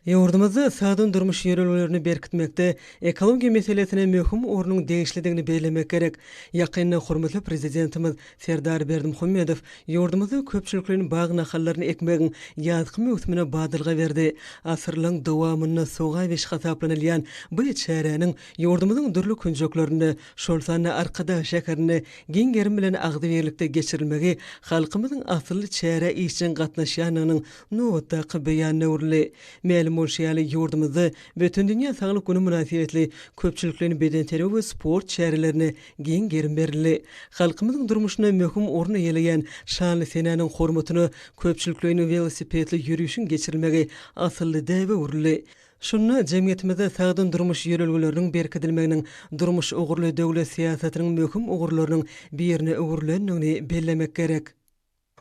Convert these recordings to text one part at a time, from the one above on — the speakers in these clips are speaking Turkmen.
Ýurdumyzda ykdysady durmuş ýörelgelerini berkitmekde ekologiýa meselesine möhüm ornuň degişlidigini bellemek gerek. Ýakynda hormatly Prezidentimiz Serdar Berdimuhamedow ýurdumyzda köpçülikleýin bag nahallaryny ekmegiň ýazky möwsümine badalga berdi. Asyrlaryň dowamynda sogawiş hasaplanylýan bu çäräniň ýurdumyzyň dürli künjeklerinde, şol sanda Arkadag şäherinde giň gerim bilen agzybirlikde geçirilmegi halkymyzyň asylly çärä işjeň gatnaşýandygynyň Nobatdaky beýan döwrüli. Mälim bolşy ýaly, ýurdumyzda Bütindünýä saglyk güni mynasybetli köpçülikleýin bedenterbiýe we sport çärelerine giň gerim berildi. Halkymyzyň durmuşynda möhüm orun eýeleýän şanly senäniň hormatyna köpçülikleýin welosipedli ýörişiň geçirilmegi asylly däbe öwrüldi. Şunda jemgyýetimizde sagdyn durmuş ýörelgeleriniň berkidilmeginiň durmuş ugurly döwlet syýasatynyň möhüm ugurlarynyň birine öwrülendigini bellemek gerek.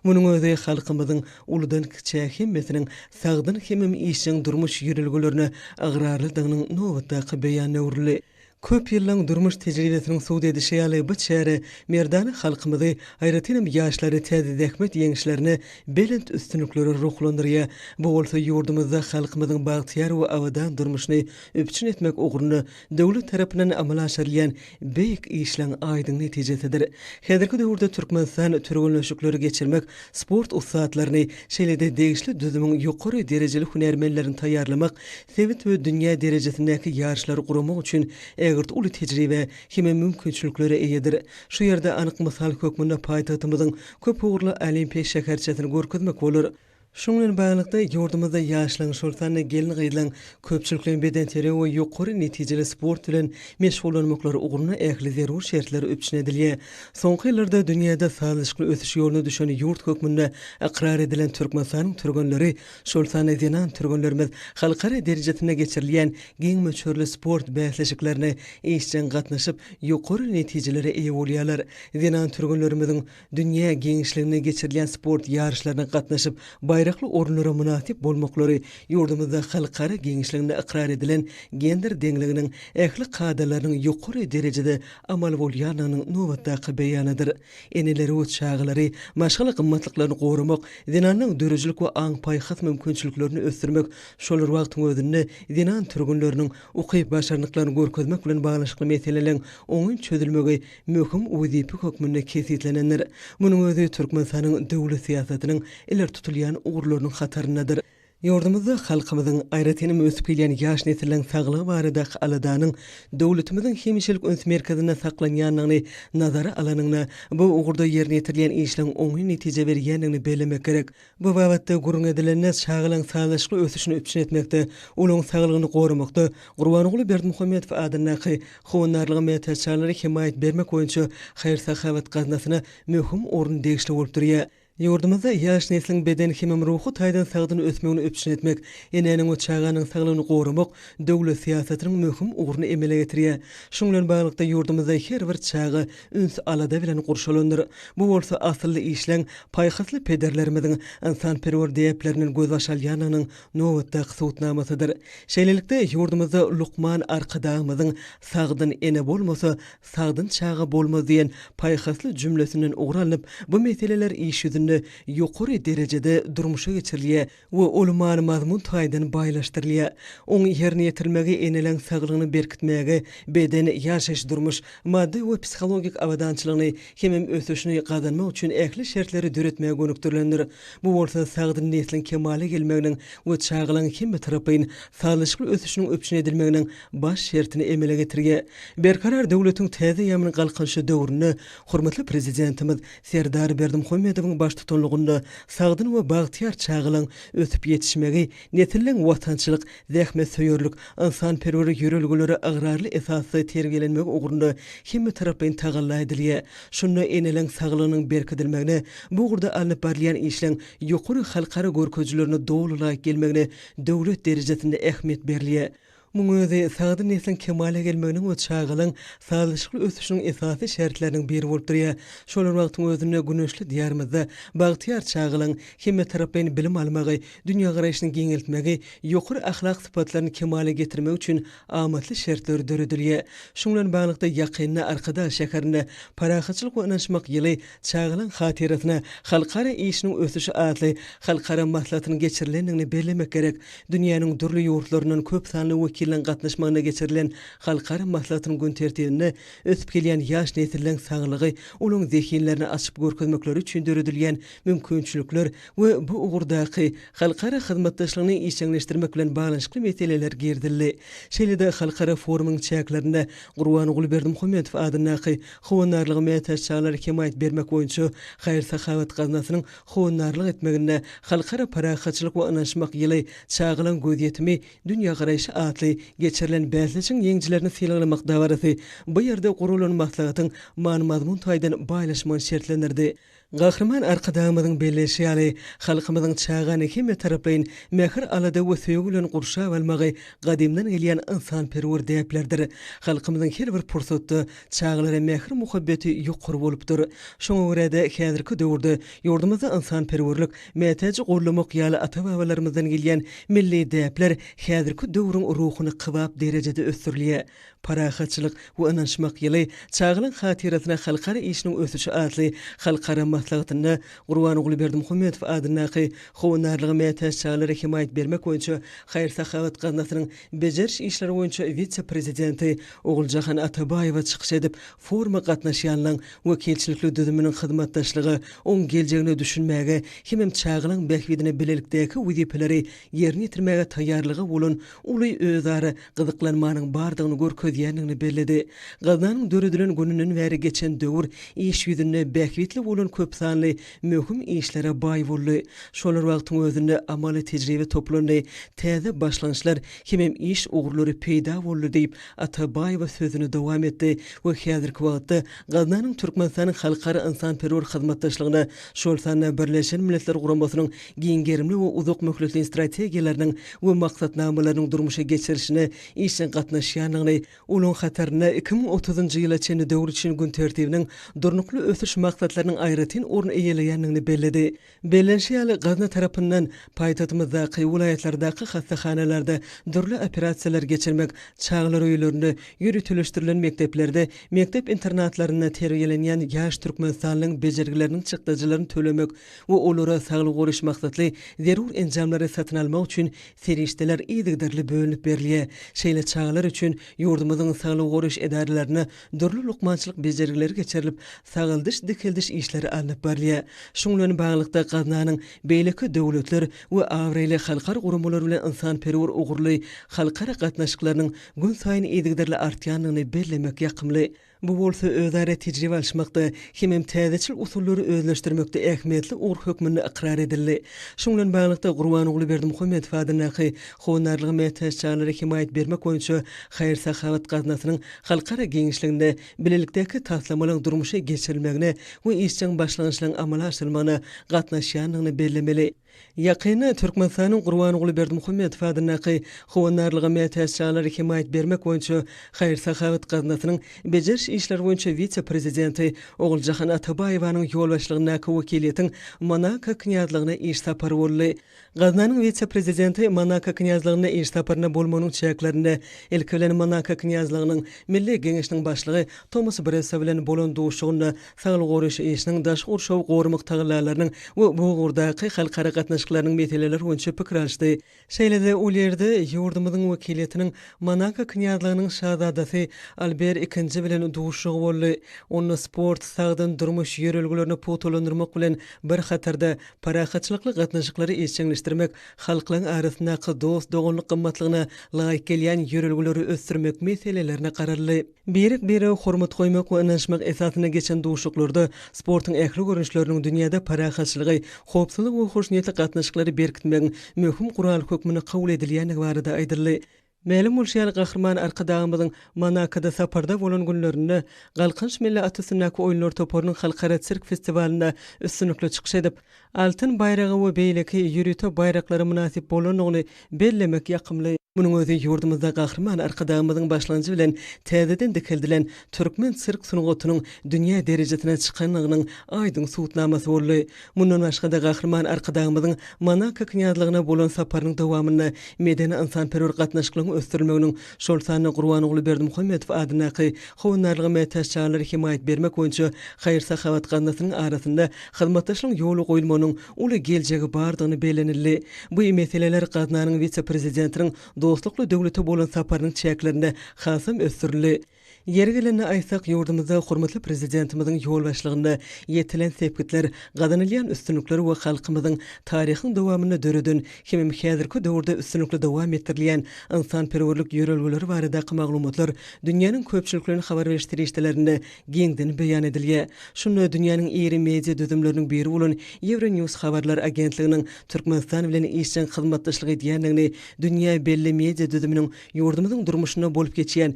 Munuň özi halkymyzyň uludan-kiçä hemmesiniň sagdyn hemem işjeň durmuş ýörelgelerine ygrarlydygynyň nobatdaky beýany öwrüldi. Köp ýyllaň durmuş tejribesiniň subut edişi ýaly, bu çäre merdana halkymyzy, aýratynam ýaşlary täze zähmet ýeňişlerine, belent üstünliklere ruhlandyrýar. Bu bolsa ýurdumyzda halkymyzyň bagtyýar we abadan durmuşyny üpjün etmek ugrunda döwlet tarapyndan amala aşyrylýan beýik işleň aýdyň netijesidir. Häzirki döwürde Türkmenistan türgenleşikleri geçirmek, sport ussatlaryny, şeýle-de degişli düzümiň ýokary derejeli hünärmenlerini taýýarlamak, sebit we dünýä derejesindäki ýaryşlary guramak üçin ägirt uly tejribä hem-ä mümkinçiliklere eýedir. Şu ýerde anyk mysal hökmünde paýtagtymyzyň köp ugurly Olimpiýa şäherçesini görkezmek bolar. Şunuň bilen baglylykda, ýurdumyzda ýaşlaryň, şol sanda gelin-gyzlaryň köpçülikleýin bedenterbiýe we ýokary netijeli sport bilen meşgullanmaklary ugrunda ähli zerur şertler üpjün edilýär. Soňky ýyllarda dünýäde sazlaşykly ösüş ýoluna düşen ýurt hökmünde ykrar edilen Türkmenistanyň türgenleri, şol sanda zenan türgenlerimiz halkara derejesinde geçirilýän giň möçberli sport bäsleşiklerine işjeň gatnaşyp, ýokary netijelere eýe bolýarlar. Zenan türgenlerimiziň. dünýä giňişliginde geçirilýän sport ýaryşlaryna gatnaşyp, baýrakly orunlara mynasyp bolmaklary ýurdumyzda halkara giňişliginde ykrar edilen gender deňliginiň ähli kadalarynyň ýokary derejede amal bolýandygynyň nobatdaky beýanydyr. Eneleri we çagalary, maşgala gymmatlyklaryny goramak, zenanyň döredijilik we aň-paýhas mümkinçiliklerini ösdürmek, şol bir wagtyň özünde zenan türgenleriniň ukyp-başarnyklaryny görkezmek bilen baglanyşykly meseleleriň oňyn çözülmegi möhüm wezipe hökmünde kesgitlenendir. Munuň özi Türkmenistanyň döwlet syýasatynyň ileri tutulýan ugurlarynyň hataryndadyr. Ýurdumyzda halkymyzyň, aýratynam ösüp gelýän ýaş nesliň saglygy baradaky aladanyň döwletimiziň hemişelik üns merkezinde saklanýandygyny nazara alanyňda, bu ugurda ýerine ýetirilýän işleň oňyn netije berýändigini bellemek gerek. Bu babatda gürrüň edilende, çagalaryň sazlaşykly ösüşini üpjün etmekde, olaryň saglygyny goramakda Gurbanguly Berdimuhamedow adyndaky Howandarlyga mätäçjaglary hemaýat bermek boýunça haýyr-sahawat gaznasyna möhüm orun degişli bolup durýar. Ýurdumyzda ýaş nesliň beden hemem ruhy taýdan sagdyn ösmegini üpjün etmek, enäniň we çaganyň saglygyny goramak döwlet syýasatynyň möhüm ugruny emele getirýär. Şunuň bilen baglylykda, ýurdumyzda her bir çaga üns-alada bilen gurşalandyr. Bu bolsa asylly işleň, paýhasly pederlerimiziň ynsanperwer däplerinden gözbaş alýandygynyň nobatdaky subutnamasydyr. Şeýlelikde, ýurdumyzda Lukman Arkadagymyzyň Sagdyn ene bolmasa, sagdyn çaga bolmaz diýen paýhasly jümlesinden ugur alnyp, bu meseleler iş ýüzünde ýokary derejede durmuşa geçirilýär. we ol many-mazmun taýdan baýlaşdyrylýar. Oň ýerine ýetirilmegi eneleň saglygyny berkitmäge, beden, ýaşaýyş-durmuş, maddy we psihologik abadançylygyny hemem ösüşini gazanmak üçin ähli şertleri döretmäge gönükdirilendir. Bu bolsa sagdyn nesliň kemala gelmeginiň we çagalaryň hemmetaraplaýyn sazlaşykly ösüşiniň üpjün edilmeginiň baş şertini emele getirýär. Berkarar döwletiň täze ýaman galkynyşy döwründe hormatly Prezidentimiz Serdar Berdimuhamedowyň baştutanlygynda sagdyn we bagtyýar çagalaryň ösüp ýetişmegi, nesilleriň watançylyk, zähmetsöýerlik, ynsanperwer ýörelgelere ygrarly esasda terbiýelenmegi ugrunda hemmetaraplaýyn tagalla edilýär. Şunda eneleriň saglygynyň berkidilmegine, bu ugurda alnyp barylýan işleň ýokary halkara görkezijilerine doly laýyk gelmegine döwlet derejesinde ähmiýet berilýär. Munuň özi sagdyn nesliň kemala gelmeginiň we çagalaň sazlaşykly ösüşiniň esasy şertleriniň biri bolup durýar. Şol bir wagtyň özünde güneşli Diýarymyzda bagtyýar çagalaň hemmetaraplaýyn bilim almagy, dünýägaraýşyny giňeltmegi, ýokary ahlak sypatlaryny kemala getirmegi üçin amatly şertler döredilýär. Şuň bilen baglylykda, ýakynda Arkadag şäherinde Parahatçylyk we ynanyşmak ýyly Çagalaň hatyrasyna halkara işiniň ösüşi atly halkara maslahatynyň geçirilendigini bellemek gerek. Dünýäniň dürli ýurtlaryndan köp sanly wekiliniň gatnaşmagynda geçirilen halkara maslahatynyň gün tertibinde ösüp gelýän ýaş nesilleriň saglygy, olaryň zehinlerini açyp görkezmekleri üçin döredilýän mümkinçilikler we bu ugurdaky halkara hyzmatdaşlygyny işjeňleşdirmek bilen baglanyşykly meseleler girizildi. Şeýle-de halkara forumyň çäklerinde Gurbanguly Berdimuhamedow adyndaky Howandarlyga mätäç çagalara hemaýat bermek boýunça haýyr-sahawat gaznasynyň howandarlyk etmeginde Halkara parahatçylyk we ynanyşmak ýyly, Çagalaryň gözýetimi, dünýägaraýşy atly geçirilen bäsleşigiň ýeňijilerini sylaglamak dabarasy bu ýerde guralan maslahatyň many-mazmun taýdan baýlaşmagyny şertlendirdi. Gahryman Arkadagymyzyň belleýşi ýaly, halkymyzyň çagany hemmetaraplaýyn mähir-alada we söýgi bilen gurşap almagy gadymdan gelýän ynsanperwer däplerdir. Halkymyzyň her bir pursatda çagalara mähir-muhabbeti ýokary bolupdyr. Şoňa görä-de, häzirki döwürde ýurdumyzda ynsanperwerlik, mätäji goldamak ýaly ata-babalarymyzdan gelýän milli däpler häzirki döwrüň ruhuny kybap derejede ösdürilýär. Parahatçylyk we ynanyşmak ýyly çagalyň hatyrasyna halkara işiniň ösüşi atly halkara maslahatynda Gurbanguly Berdimuhamedow adyndaky Howandarlyga mätäç çagalara hemaýat bermek boýunça haýyr-sahawat gaznasynyň bejeriş işleri boýunça wise-prezidenti Oguljahan Atabaýewa çykyş edip, foruma gatnaşýanlaň wekilçilikli düzüminiň hyzmatdaşlyga, oň geljegine düşünmäge hemem çagalaň bähbidine bilelikdäki wezipeleri ýerine ýetirmäge taýýarlyga bolan uly özara gyzyklanmanyň bardygyny görkezýändigini belledi. Gaznanyň döredilen gününden bäri geçen döwür iş ýüzünde bähbitli bolan köpsanly möhüm işlere baý boldy. Şolar wagtyň özünde amaly tejribe toplandy, täze başlangyçlar hemem iş ugurlary peýda boldy diýip, Atabaýewa sözüni dowam etdi we häzirki wagtda Gaznanyň Türkmenistanyň halkara ynsanperwer hyzmatdaşlygyna, şol sanda Birleşen Milletler Guramasynyň giň gerimli we uzak möhletleýin strategiýalarynyň we maksatnamalarynyň durmuşa geçirilişine işjeň gatnaşýandygyny, olaryň hatarynda iki müň otuzynjy ýyla çenli döwür üçin gün tertibiniň Durnukly ösüş maksatlarynyň aýratyn orun eýeleýändigini belledi. Bellenişi ýaly, gazna tarapyndan paýtagtymyzdaky, welaýatlardaky hassahanalarda dürli operasiýalary geçirmek, çagalar öýlerinde, ýöriteleşdirilen mekdeplerde, mekdep-internatlarynda terbiýelenýän ýaş türkmenistanlyň bejergileriniň çykdajylaryny tölemek, we olara saglygy goraýyş maksatly zerur enjamlary satyn almak üçin serişdeler yzygiderli bölünip berilýär. Şeýle çagalar üçin ýurdumyzyň saglygy goraýyş edaralarynda dürli lukmançylyk bejergileri geçirilip, sagaldyş-dikeldiş işleri alnyp barylýar. Şuň bilen baglylykda, gaznanyň beýleki döwletler we abraýly halkara guramalary bilen ynsanperwer ugurly halkara gatnaşyklarynyň günsaýyn yzygiderli artýandygyny bellemek ýakymly. Bu bolsa özara tejribe alyşmakda hemem täzeçil usullary özleşdirmekde ähmiýetli ugur hökmünde ykrar edildi. Şuň bilen baglylykda, Gurbanguly Berdimuhamedow adyndaky Howandarlyga mätäç çagalara hemaýat bermek boýunça haýyr-sahawat gaznasynyň halkara giňişliginde bilelikdäki taslamalaryň durmuşa geçirilmegine we işjeň başlangyçlaryň amala aşyrylmagyna gatnaşýandygyny bellemeli. Ýakynda Türkmenistanyň Gurbanguly Berdimuhamedow adyndaky Howandarlyga mätäç çagalara hemaýat bermek boýunça haýyr-sahawat gaznasynyň bejeriş işleri boýunça wise-prezidenti Oguljahan Atabaýewanyň ýolbaşçylygyndaky wekiliýetiň Monako Knýazlygyna iş sapary boldy. Gaznanyň wise-prezidenti Monako Knýazlygynda iş saparynda bolmagynyň çäklerinde, ilki bilen, Monako Knýazlygynyň Milli Geňeşiniň Başlygy Tomas Bressa bilen bolan duşuşygynda Saglygy goraýyş işiniň, daşky gurşawy goramak tagallalarynyň we bu ugurdaky halkara gatnaşyklarynyň meseleleri boýunça pikir alyşdy. Şeýle-de ol ýerde ýurdumyzyň wekiliýetiniň Monako Knýazlygynyň Şazadasy Alber II bilen duşuşygy boldy. Onda sport, sagdyn durmuş ýörelgelerini pugtalandyrmak bilen bir hatarda, parahatçylykly gatnaşyklary işjeňleşdirmek, halklaryň arasyndaky dost-doganlyk gymmatlygyna laýyk gelýän ýörelgeleri ösdürmek meselelerine garaldy. Birek-birege hormat goýmak we ynanyşmak esasynda geçen duşuşyklarda sportuň ähli görnüşleriniň dünýäde parahatçylygy, howpsuzlygy we hoşniýetli gatnaşyklary berkitmegiň möhüm guraly hökmünde kabul edilýändigi barada aýdyldy. Mälim bolşy ýaly, Gahryman Arkadagymyzyň Monakoda saparda bolan günlerinde Galkynyş milli at üstündäki oýunlar toparynyň halkara sirk festiwalynda üstünlikli çykyş edip, Altyn baýraga we beýleki ýörite baýraklara mynasyp bolandygyny bellemek ýakymly. Munuň özi ýurdumyzda Gahryman Arkadagymyzyň başlanjy bilen täzeden dikeldilen türkmen sirk sungatynyň dünýä derejesine çykandygynyň aýdyň subutnamasy boldy. Mundan başga-da, Gahryman Arkadagymyzyň Monako Knýazlygyna bolan saparynyň dowamynda medeni-ynsanperwer gatnaşyklaryň ösdürilmeginiň şol sanda Gurbanguly Berdimuhamedow adyndaky Howandarlyga mätäç çagalara hemaýat bermek boýunça haýyr-sahawat gaznasynyň arasynda hyzmatdaşlygyň ýola goýulmagynyň uly geljegi bardygyny bellenildi. Bu meseleler gaznanyň wise-prezidentiniň dostlukly döwlete bolan saparynyň çäklerinde hasam ösdürildi. Ýeri gelende aýtsak, ýurdumyzda hormatly Prezidentimiziň ýolbaşçylygynda ýetilen sepgitler, gazanylýan üstünlikler we halkymyzyň taryhyň dowamynda döreden hemem häzirki döwürde üstünlikli dowam etdirilýän ynsanperwerlik ýörelgeleri baradaky maglumatlar dünýäniň köpçülikleýin habar beriş serişdelerinde giňden beýan edilýär. Şunda dünýäniň iri media düzümleriniň biri bolan Euronews habarlar agentliginiň Türkmenistan bilen işjeň hyzmatdaşlyk edýändigini, dünýä belli media düzüminiň ýurdumyzyň durmuşynda bolup geçýän